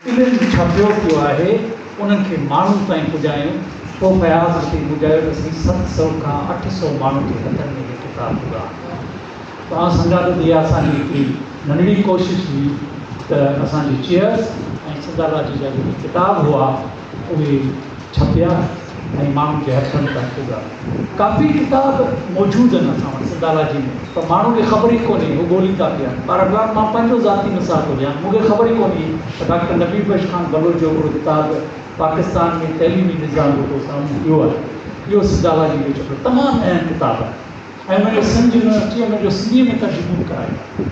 علم ڇپيو پيو آهي، انهن کي ماڻهو تائين پڄايون. پوء فياض متي ٻڌايو ته سائين ست سؤ کان اٺ سؤ ماڻهن جي هٿن ۾ هي ڪتاب هئا. توهان سمجهان ٿو ته اها اسان جي هڪڙي ننڍڙي ڪوشش هئي ته اسان جي چيئرز ۽ سنڌالاجي جا جيڪي ڪتاب هئا، اهي ڇپيا ۽ ماڻهن جي هٿن تائين پڳا. ڪافي ڪتاب موجود آهن اسان وٽ سنڌالاجي ۾ پر ماڻهن کي خبر ئي ڪونهي هو ڳولين ٿا پيا. بهرحال مان پنهنجو ذاتي مثال ٿو ڏيان مون کي خبر ئي ڪونهي ته ڊاڪٽر نبي بخش خان بلوچ جو هڪڙو ڪتاب پاڪستان ۾ تعليمي نظام رڳو سامهون اهو آهي اهو سنڌالاجي جو ڇپيل تمام اهم ڪتاب آهي ۽ ان جو سمجهه نه اچي ان جو سنڌي ۾ ترجمو به ڪرايو آهي.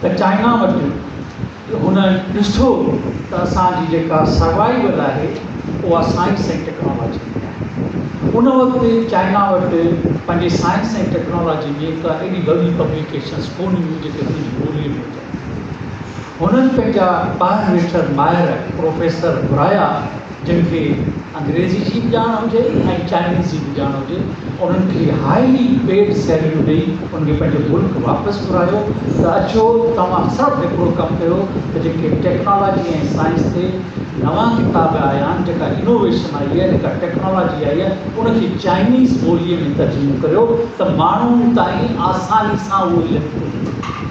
ته چائنا وٽ هن ڏٺو ته اسان جي جيڪا سروائيول آهي اها سائنس ۽ ٽيڪنالاجي ۾ آهي. ان وقت چائنا وٽ پنهنجي سائنس ۽ ٽيڪنالاجي جي ڪا ايڏي وڏي پبليڪيشنز ڪونه هيون جيڪي پنهنجي ٻولي ۾ هجن. هنن پنهنجا ٻاهر ويٺل ماهر پروفيسر گهرايا. جن کي انگريزي جي به ڄاڻ هجي ۽ چائنيز جي به ڄاڻ هجي انهن کي هائلي پيڊ سيلريون ڏئي انهن کي پنهنجو ملڪ واپس گهرايو ته اچو توهان سڀ هڪڙو ڪم ڪيو ته جيڪي ٽيڪنالاجي ۽ سائنس تي نوان ڪتاب آيا آهن جيڪا انوويشن آئي آهي جيڪا ٽيڪنالاجي آئي آهي ان کي چائنيز ٻولي ۾ ترجمو ڪريو ته ماڻهن تائين آساني سان اهو لکبو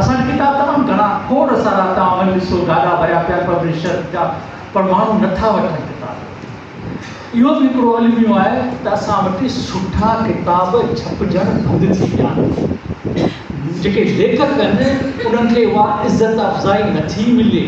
اسان جي ڪتاب تمام گهڻا کوڙ سارا توهان وڃي ڏسو گاڏا ڀريا پيا پبلشر جا پر ماڻهو نٿا وٺن ڪتاب اهو به هڪڙو الميو آهي ته اسان وٽ سٺا ڪتاب ڇپجڻ بند ٿي ويا آهن جيڪي ليکڪ آهن انهن کي اها عزت افزائي نٿي ملي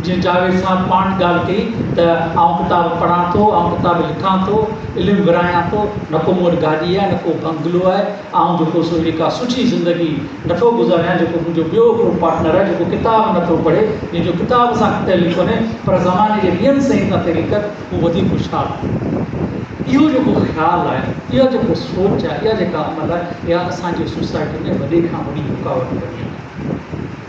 جيئن جاويد صاحب پاڻ ڳالهه ڪئي ته آئون ڪتاب پڙهان ٿو آئون ڪتاب لکان ٿو علم ورهايان ٿو نه ڪو مون وٽ گاڏي آهي نه ڪو بنگلو آهي آئون جيڪو سو اهڙي ڪا سٺي زندگي نٿو گذاريان جيڪو منهنجو ٻيو هڪڙو پارٽنر آهي جيڪو ڪتاب نٿو پڙهي جنهن جو ڪتاب سان ڪو تعلق ڪونهي پر زماني جي ٻين سئين سان تعلق آهي هو وڌيڪ هوشيار آهي اهو جيڪو خيال آهي اها جيڪو سوچ آهي اها جيڪا عمل آهي اها اسان جي سوسائٽي ۾ وڏي کان وڏي رڪاوٽ بني آهي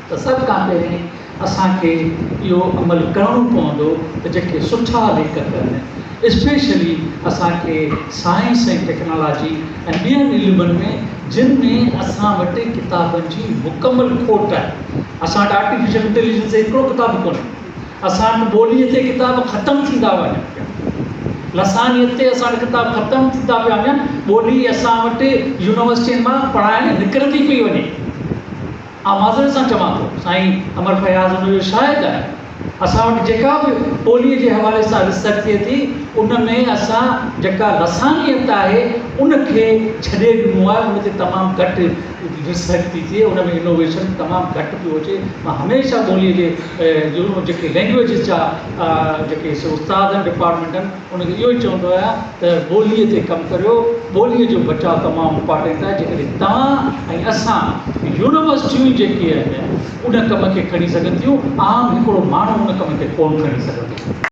ته سڀ کان پهرين اسان کي اهو عمل ڪرڻو پوندو ته جيڪي سٺا ليکڪ آهن اسپيشلي اسان کي سائنس ۽ ٽيڪنالاجي ۽ ٻين علمن ۾ جن ۾ اسان وٽ ڪتابن جي مڪمل کوٽ آهي اسان وٽ آرٽيفيشل انٽيليجنس تي هڪڙو ڪتاب به ڪونهي اسان وٽ ٻولي تي ڪتاب ختم ٿيندا وڃن پيا لسانيت تي اسان وٽ ڪتاب ختم ٿيندا پيا وڃن ٻولي اسان وٽ يونيورسٽين مان پڙهائڻ نڪرندي پئي وڃي آء معذرت سان چوان ٿو سائين امر فياض ان جو شاهد آهي اسان وٽ جيڪا به ٻوليء جي حوالي سان ريسرچ ٿئي ٿي ان ۾ اسان جيڪا لسانيت آهي ان کي ڇڏي ڏنو آهي ان تي تمام گهٽ ريسرچ ٿي ٿئي ان ۾ انوويشن تمام گهٽ پيو اچي مان هميشه ٻوليء جي جيڪي لينگويجز جا جيڪي استاد آهن ڊپارٽمينٽن ان کي اهو ئي چوندو آهيان ته ٻوليء تي ڪم ڪريو، ٻوليء جو بچاء تمام امپارٽنٽ آهي، جيڪڏهن توهان ۽ اسان، يونيورسٽيون جيڪي آهن ان ڪم کي کڻي سگهن ٿيون، عام هڪڙو ماڻهو ان ڪم کي ڪونه کڻي سگهندو.